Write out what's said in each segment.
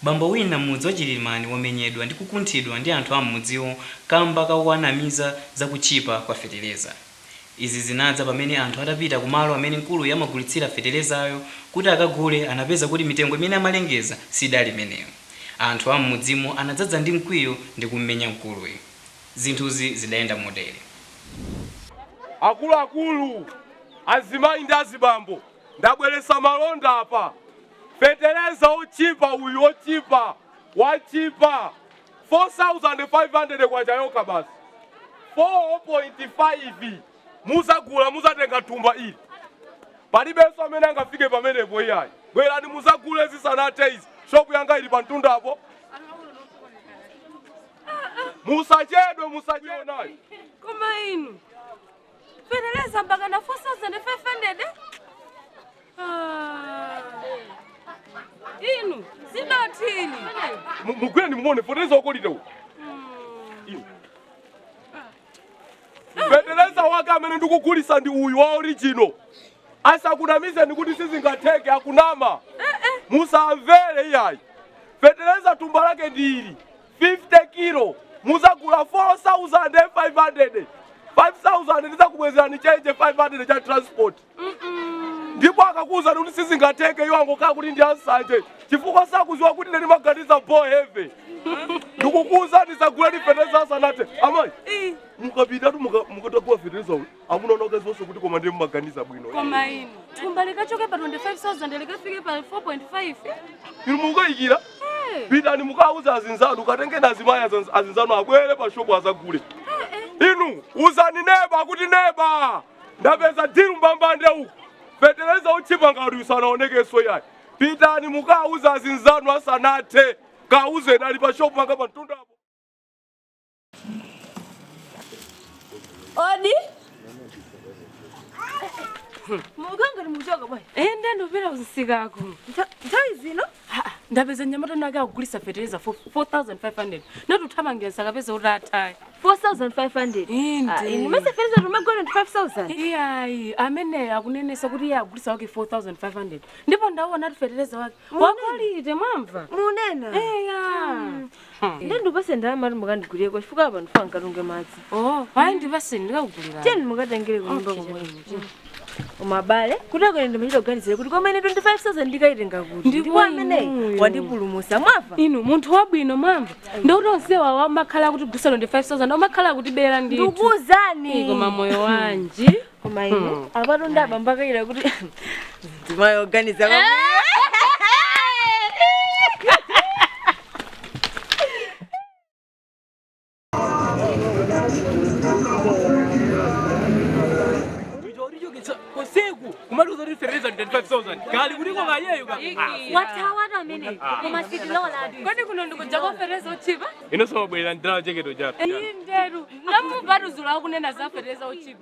bambo wina m'mudzi wa chilimani wamenyedwa ndi kukunthidwa ndi anthu a m'mudziwo kamba kakuwanamiza za kutchipa kwa feteleza Izi zinadza pamene anthu adapita ku malo amene mkuluyu amagulitsira feterezayo kuti akagule anapeza kuti mitengo imene amalengeza sidali imeneyo. Anthu a m'mudzimo anadzadza ndi mkwiyo ndi kummenya mkuluyu. Zinthuzi zidayenda motere. Akuluakulu, azimayi ndi azibambo ndabweretsa malonda apa. Fetereza otchipa uyu, otchipa, watchipa. K4500 yokha basi 4.5 muzagula muzatenga thumba ili palibenso amene angafike pamenepo iyayi bwerani muzagule zisanathe izi shopu yanga ili pamtundapo musachedwe musachedwenayo Koma inu feteleza mpaka na 4500 Ah. inu zidatini mu- mugwire muone feteleza wa quality uyu Inu. feteleza wake amene ndikugulisa ndi uyu wa original asakunamizeni kuti sizingatheke akunama musamvere iyayi feteleza tumba lake ndi ili 50 kilo muzagula 4500 5000 ndizakubwezerani chenje 500 cha transport ndipo akakuwuzani kuti sizingatheke iwo angokhala kuti ndi ansanje chifukwa sakuziwa kuti ndani maganiza bo heavy ndikukuwuzani zagulani fetereza asanathe amayi mukapitatu mukatakula fetereza uyu amuna anu akazionse kuti koma ndiye mumaganiza bwino koma inu thumba likachoke pa 25000 likafike pa 4.5 inu mukayikira Eh, pitani mukauza azinzanu katengeni azimayi azinzanu abwere pa shopu azagule inu uzani neba kuti neba ndapeza dilu mbambande uku fetereza otchipa ngati uyu sanaonekeso iyayi pitani mukauza azinzanu asanathe kauzeni ali pa shopu panga pa mtundapo Odi. Muganga nimuchoka bwana. Eh, ndiye ndopera usisikako. Nthawi zino? Ndapeza nyamata nake akugulisa fertilizer for 4500. Nati uthamangira musakapeze atatha. 4500. Ah, inu nmesa fertilizer timagula ndi 5000. Iyayi, ameneyo akunenesa kuti iye agulisa wake 4500. Ndipo ndaona ati fertilizer wake. Wa quality mwamva. Munena. Eya. Ndiye ndipase ndalama ati mukandigulireko chifukwa apa ndifuna nkatunge madzi. Oh, hayi ndipase ndikakugulira. Tiyeni mukatengere kunyumba Okay, komwe. chabwino. Koma abale, kuti akwene ndimachita kuganizira kuti komene 25,000 ndikayitenga kuti. Ndipo amene inuyo mwandipulumutsa mwamva. Inu munthu wabwino mwamva. Ndikuti onsewa amakhala akutigulitsa 25,000 amakhala akutibera ndithu. Ndikuuzani. Koma moyo wanji. koma inu apatu ndi abambo akayira kuti mzimayi oganiza usiku kumaliza kuti 325,000 kali kuliko kayeyo ka watawatu amene koma sitiloladi kodi kuno ndikuja kofetereza otchipa inosowa bwera ndala jekete yatu iyi nderu namubaduzula akunena za fetereza otchipa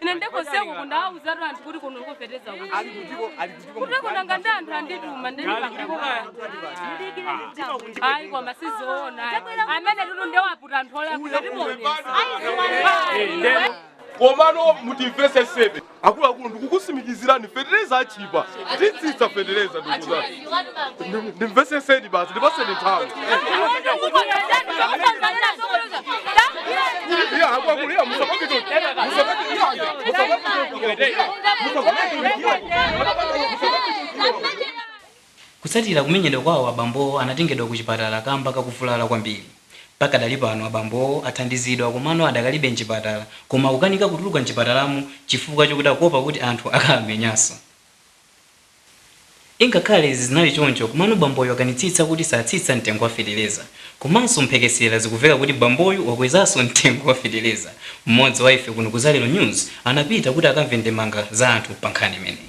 ine ndiye koseko kunja ndawauzatu anthu kuti kuno kofetereza kuteko nanga ndi anthu andituma ayi koma sizoona amene tutu ndiye waputa anthu komano mutimvetsetsebe akuluakulu ndikukusimikizirani fetereza atchipa titsitsa fetereza ndikuuzani ndimvetsetseni basi ndipatseni nthawi iya akuluakulu iya musapakito musapakito iya musapakito iya kutsatira kumenyedwa kwawo abambowo anatengedwa ku chipatala kamba kakuvulala kwambiri pakadali pano abambowo athandizidwa komano adakalibe mchipatala koma akukanika kutuluka mchipatalamo chifukwa chokuti akuopa kuti anthu akamenyanso Ingakhale izi zinali choncho komano bamboyu wakanitsitsa kuti satsitsa mtengo wa fetereza. Komanso mphekesera zikuveka kuti bamboyu wakwezanso mtengo wa fetereza. Mmodzi wa ife kuno ku Zalero News anapita kuti akamve ndemanga za anthu pa nkhani imeneyi.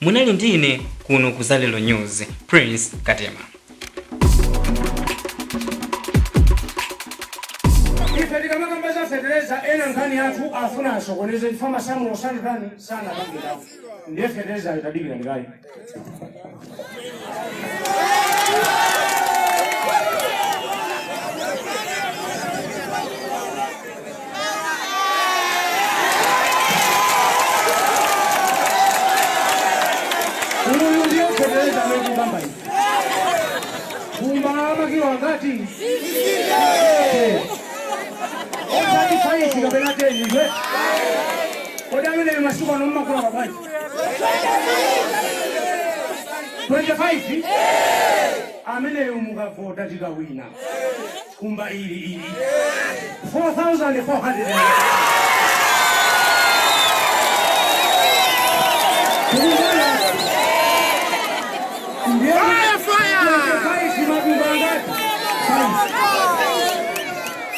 munali ndi ine kuno ku zalero news prince katema ife tikamakamba za fetereza ena nkhani yathu afuna asokoneze chifukwa masamulo sanatani sanakambirepo ndiye fetereza itadikira ndikaye Uyu ndiye fetereza amene tikukamba izi. Kumba makilo angati? Osati faifi kapena teni ife. Kodi amene masiku ano mmagula kabwanji? 25 ameneyo mukavota tikawina kumba ili ili 4400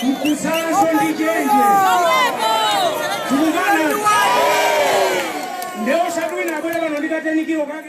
mkufunanso ndi chenje tikukana nde osadziwa abwera pano ndi katengedwe kake